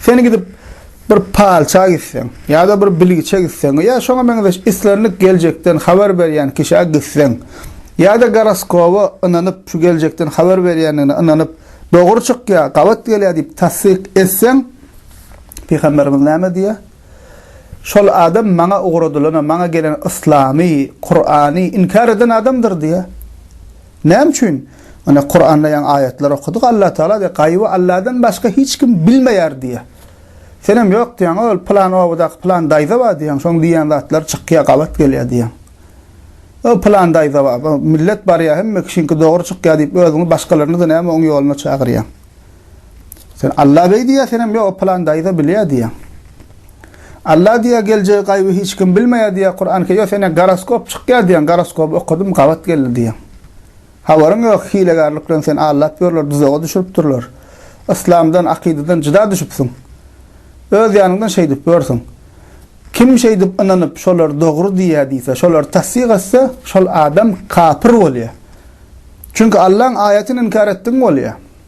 Sen gidip bir palça gitseň, ýa-da bir bilgiçe gitseň, ýa şoňa meňzeş islendik geljekden habar berýän kişä gitseň, ýa-da goroskoba ynanyp, şu geljekden habar berýändigine ynanyp, dogry çykýar, gabat gelýär diýip tassyk etseň, Pygamberimiz näme diýýär? Şol adam maňa ugradylana, maňa gelen yslamy, Kurany inkär eden adamdyr diýýär. Näme üçin? Ine, Kuranda ýaňy aýatlar okadyk, Allatagala diýýär, Gaýyby Alladan başga hiç kim bilmeýär diýýär. Senem ýok diýýäň, ol pylan obadaky pylan daýza bar diýýäň, şonuň diýýän zatlary çykýar, gabat gelýär diýýäň. O pylan daýza bar, millet barýar, hemme kişiniňki dogry çykýar diýip, özüňi başgalaryny-da näme oň ýoluna çagyrýaň. Sen Alla beý diýýär, senem ýok, pylan daýza bilýär diýýäň. Alla diýýär, geljegi gaýby hiç kim bilmeýär diýýär, Kuran ke, ýok, sene goroskop çykýar diýýäň, goroskoby okadym, gabat geldi diýýäň. Habaryň ýok, hilegärlik bilen seni aldap ýörler, duzaga düşüripdirler. Yslamdan, akydadan jyda düşüpsiň. Öz ýanyňdan şeýdip ýörsüň. Kim şeýdip ynanyp, şolar dogry diýýär diýse, şolar tassyk etse, şol adam kapyr bolýar. Çünki Allaň aýatyny inkär etdigiň bolýar.